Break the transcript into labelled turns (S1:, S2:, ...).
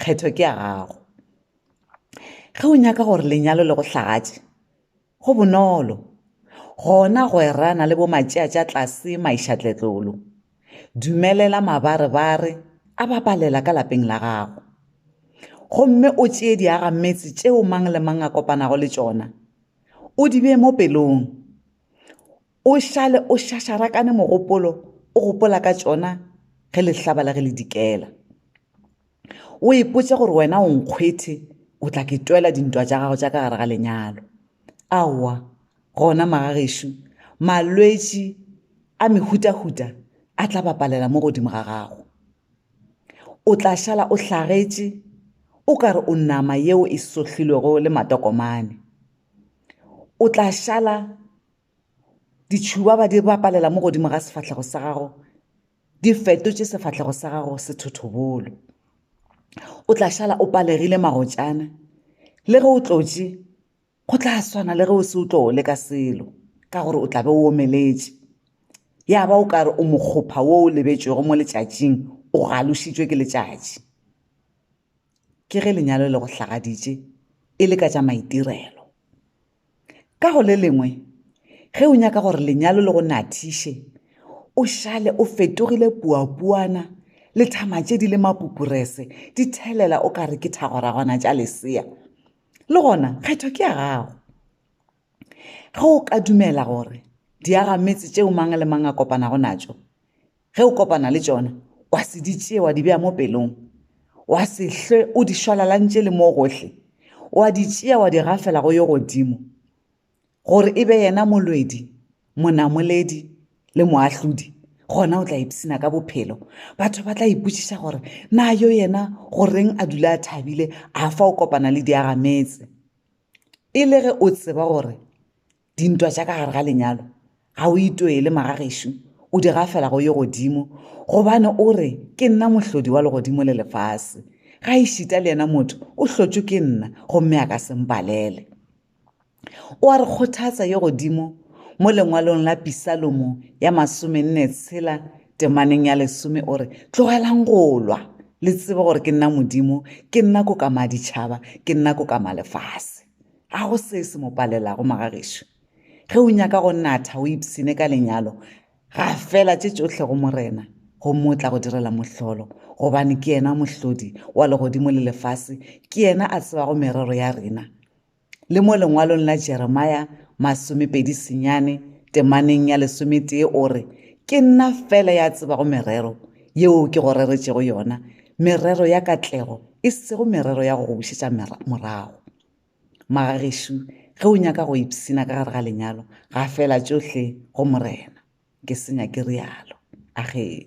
S1: kgetho ke ya gago ge o nyaka gore lenyalo le go hlagatše go bonolo gona go erana le bomatšea tša tlase maešatletlolo dumelela mabarebare a babalela ka lapeng la gago gomme o tšee diaga metse tšeo mang le mang a kopanago le tšona o di bee mo pelong O šale o šašarakane mogopolo o gopola ka tšona ge lehlaba la ge le dikela. O ipotša gore wena o nkgwethe o tla ke twela dintwa tša gago tša ka gare ga lenyalo. Aowa, gona magagešo, malwetši a mehutahuta a tla bapalela mo godimo ga gago. O tla šala o hlagetše o ka re o nama yeo e sohlilwego le matokomane. O tla šala ditšhuba ba di bapalela mo godimo ga sefahlego sa gago di fetotše sefahlego sa gago sethothobolo o tla šala o palegile magotšana le ge o tlotše go tla swana le ge o se o tlo le ka selo ka gore o tla be o omeletše ya ba o kare o mokgopha wo o lebetšwego mo letšatšing o galošitšwe ke letšatši ke ge lenyalo le go hlagaditše e le ka tša maitirelo ka go le lengwe ge o nyaka gore lenyalo le go nathiše o šale o fetogile puapuana le thama tše di le mapupurese di thelela o ka re ke thagoragwana tša lesea le gona kgetho ke ya gago ge o ka dumela gore diagametse tšeo mang le mang a kopanago natšo Ge o kopana le tšona, wa se di tšea wa di bea mo pelong, wa se hlwe o di šwalalantše le mo gohle, wa di tšea wa di gafela go yo godimo, gore e be yena molwedi, monamoledi le moahlodi, gona o tla ipshina ka bophelo. Batho ba tla ipotšiša gore, Na yo yena go reng a dula a thabile, a fa o kopana le diagametse, e le ge o tseba gore dintwa tša ka gare ga lenyalo ga o itwele magagešo o di gafela go ye godimo gobane o re ke nna mohlodi wa legodimo le lefase ga e šita le yena motho o hlotšwe ke nna gomme a ka sempalele o a re kgothatsa ye godimo mo lengwalong la pisalomo ya masome nne tshela temaneng ya lesome o re tlogelang go lwa le tsebe gore ke nna modimo ke nna ko ka maditšhaba ke nna ko ka malefase Ga go se se mo palelago, magagešo. Ge o nyaka go natha o ipshine ka lenyalo, gafela tše tšohle go Morena, gomme o tla go direla mohlolo, gobane ke yena Mohlodi wa legodimo le lefase, ke yena a tsebago merero ya rena. Le mo lengwalong la Jeremia masomepedi senyane temaneng ya lesometee o re, Ke nna feela ya tsebago merero yeo ke go reretšego yona, merero ya katlego, e sego merero ya go go bušetša morago. Magagešo, ge o nyaka go ipshina ka gare ga lenyalo, gafela tšohle go Morena. Ke senya ke realo. Agee.